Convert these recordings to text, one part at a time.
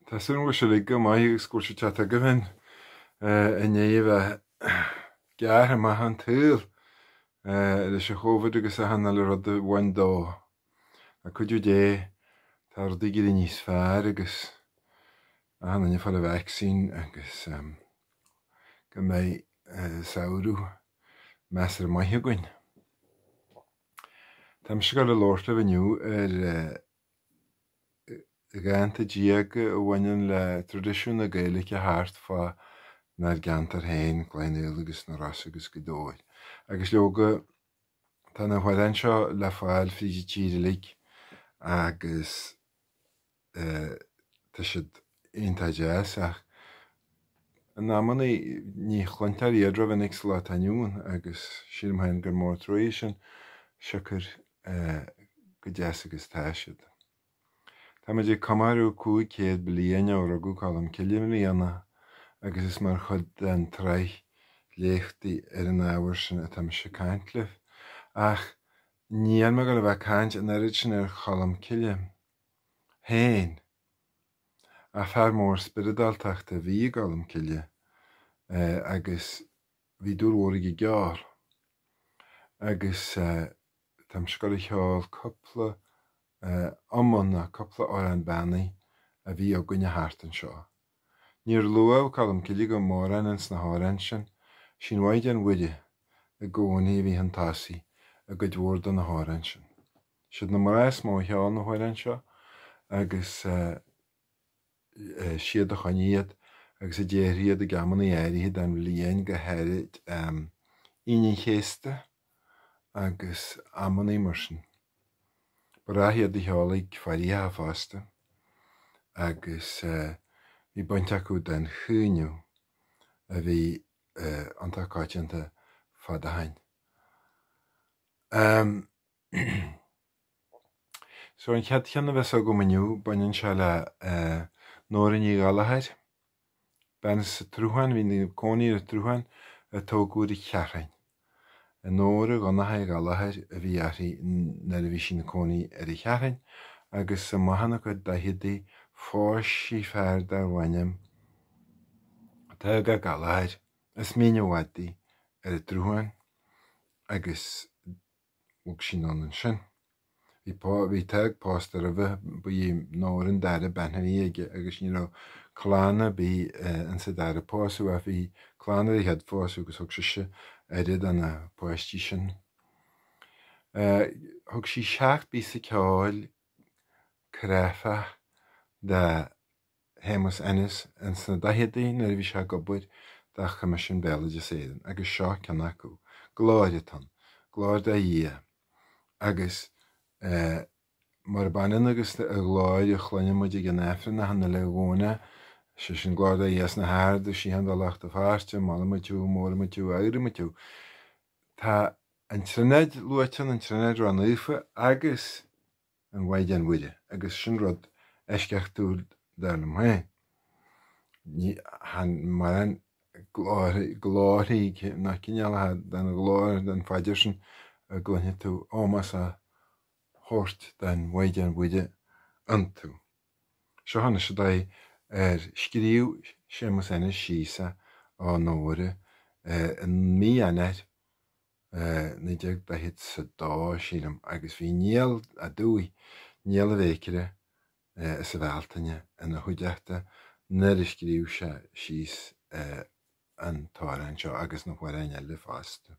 Tá súil agam go bhfuil sibh uilig go maith agus go bhfuil sé ag teacht agaibh in ainneoin a bheith gearrtha amach ón tsaol leis an chóvid agus achan uile rud a bhain dó. Le cuidiú Dé tá rudaí ag éirí níos fearr agus achan duine ag fáil an vaccine agus go mbeidh samhradh measartha maith againn. Tá mise ag dul a labhairt libh inniu ar dhánta diaga a bhaineann le traidisiún na Gaeilge thart fánár gceantar féin, Cloich Cheann Fhaola agus na Rosa agus Gaoth Dobhair. Agus leoga tá na hamhráin seo le fáil fríd an tír uilig agus. tá siad iontach deas ach in amannaí ní chluintear iad rómhinic sa lá atá inniu ann agus sílim féin gur mór an trua é sin siocair chomh deas agus atá siad. Tá muid ag comóradh 500 bliain ó rugadh Colm Cille i mbliana agus is mar chuid den tsraith léachtaí ar an ábhar sin atá mise ag caint libh. Ach níl mé ag dul a bheith ag caint an oiread sin ar Cholm Cille. fhéin, ach fear mór spioradáltachta a bhí i gColmcille agus bhí dúil mhór aige i gceol agus tá mise ag dul a cheol cúpla iomann nó cúpla Amhrán Beannaí a bhí againne thart anseo. Níor luadh Colmcille go mórán ins na hamhráin sin, Sí'n Mhaighdean Mhuire i gcónaí a bhí chun tosaigh i gcuid mhór de na hamhráin sin. Siad na mná is mó a cheol na hamhráin seo agus siad a choinnigh iad agus a déarfadh iad ag amanna áirithe den bhliain, go háirid Aoine an Chéasta agus amanna mar sin. Ba ghnáth iad a cheol ag faireacha fosta agus bhí baint acu don chaoineadh a bhí iontach coitianta fad ó shin. So an chéad cheann a bheas agam inniu baineann sé le Nóra Ní Ghallchóir, bean as an tSruthán, a bhí ina cónaí ar an tSruthán a tógadh ar an Cheathrúin. Nóra Dhonncha Uí Ghallchóir a bhí uirthi nuair a bhí sí ina cónaí ar an Cheathrúin agus amach ina cuid daicheadaí phós sí fear darbh ainm Tadhg Ó Gallchóir, as Mín an Mhadaidh, ar an tSruthán agus Bhog sí anonn ansin. Bhí pá, bhí Tadhg pósta roimhe, ba í Nóra an dara bean a bhí aige agus ní raibh clann ar bith in sa dara pósadh ach bhí clann ar an chéad phósadh agus thug sise aire do na páistí sin. Thug sí seacht bpíosa ceoil cráifeach do. Shéamus Ennis in sna daicheadaí nuair a bhí sé ag obair do Choimisiún Béaloideas Éireann agus seo ceann acu, Glóir atá ann, glóir do Dhia, agus murab ionann agus an Ghlóir a chluinimid ag an Aifreann achan uile Dhomhnach, sé sin Glóir do Dhia sna harda, síocháin do lucht a pháirte, molaimid thú, móraimid thú, adhraimid thú. Tá an Trionáid luaite ann, an Trionáid Ró-Naofa agus. an Mhaighdean Mhuire agus sin rud eisceachtúil dar liom féin. Ní, chan, mórán glóir, glóirí ná cineálacha den ghlóir den phaidir sin a gcluinfidh tú ómós á thabhairt don Mhaighdean Mhuire iontu. Seo anois an dóigh ar scríobh Séamus Ennis síos é ó Nóra i mí Eanáir, 1940 is a dó, sílim, agus bhí Niall Ó Dubhthaigh, Niall an Bhéiceara, as an Bhealtaine ina chuideachta nuair a scríobh sé síos an t-amhrán seo agus na hamhráin eile fosta.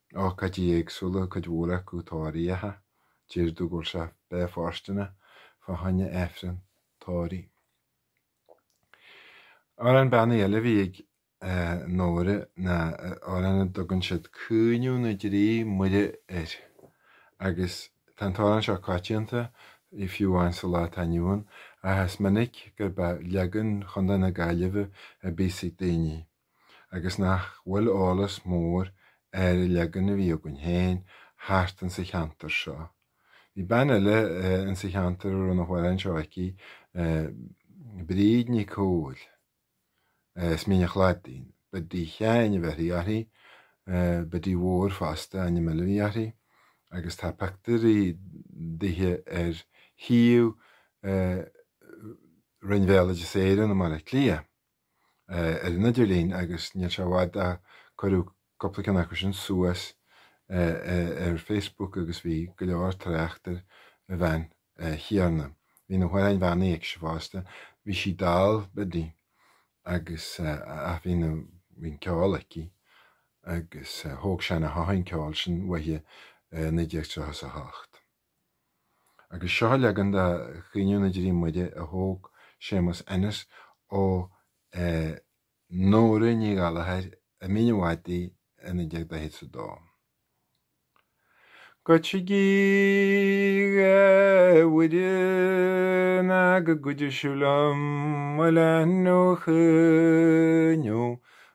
Ócáidí éagsúla, cuid mhór acu tórraíocha, deir tú go bhfuil sé breá fóirsteanach fá choinne Aifreann tórraimh. Amhrán beannaithe eile a bhí ag Nóra ná amhrán a dtugann siad Caoineadh na dTrí Muire air agus tá an t-amhrán seo coitianta fiú amháin sa lá atá inniu ann ach is minic gurb é leagan Chontae na Gaillimhe a bíos ag daoine. agus nach bhfuil eolas mór ar an leagan a bhí againn féin thart insa cheantar seo. Bhí bean eile insa cheantar a raibh na hamhráin seo aici, Bríd Nic Cumhaill, as Mín a'Chladaigh. Biddy Sheáin a bheirthí uirthi, Biddy Mhór fosta ainm eile a bhí uirthi, agus tá pictiúirí dithe ar shuíomh Roinn Bhéaloideas Éireann i mBaile Átha Cliath. ar an idirlíon agus níl sé i bhfad ó cuireadh cúpla ceann acu sin suas ar Facebook agus bhí go leor trácht ar an bhean chéanna. Bhí na hamhráin bheannaithe aicise fosta, bhí sí dall, Biddy, agus, ach bhí na, bhí an ceol aici agus thóg Seán Ó hEochaidh an ceol sin uaithi i 1938. Agus seo leagan de Chaoineadh na dTrí Muire a thóg Séamus Ennis ó Nóra Ní Ghallachair i Mín a' Chladaigh i 1942. Goitigí a Mhuireanna go gcuideoidh sibh liom mo leanbh a chaoineadh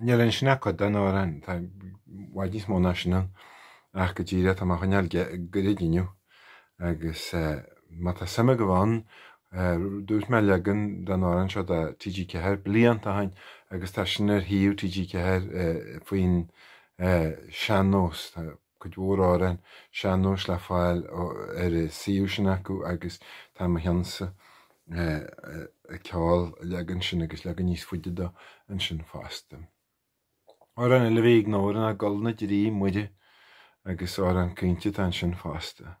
Níl ann sin ach cuid den amhrán, tá i bhfad níos mó ná sin ann, ach go díreach tá mé á choinneáil goirid inniu agus má tá suim agaibh ann, dúirt mé leagan den amhrán seo do TG4 blianta ó shin agus tá sin ar shuíomh TG4 faoin sean-nós. cuid mhór amhrán sean-nóis le fáil ar an suíomh sin acu agus tá mo chionn-sa ag ceol an leagan sin agus leagan níos faide dó ansin fosta. Amhrán eile a bhí ag Nóra ná Gol na dTrí Muire agus amhrán caointe atá ansin fosta.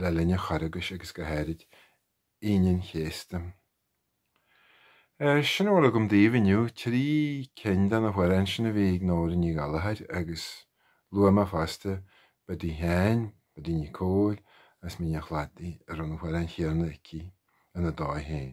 le linn an Charghais agus go háirid Aoine an Chéasta. Sin a bhfuil agam daoibh inniu, trí cinn de na hamhráin sin a bhí ag Nóra Ní Ghallachair agus luaigh mé fosta Biddy Sheáin, Biddy Nic Comhaill as Mín a' Chladaigh a raibh na hamhráin chéanna aici ina dóigh féin.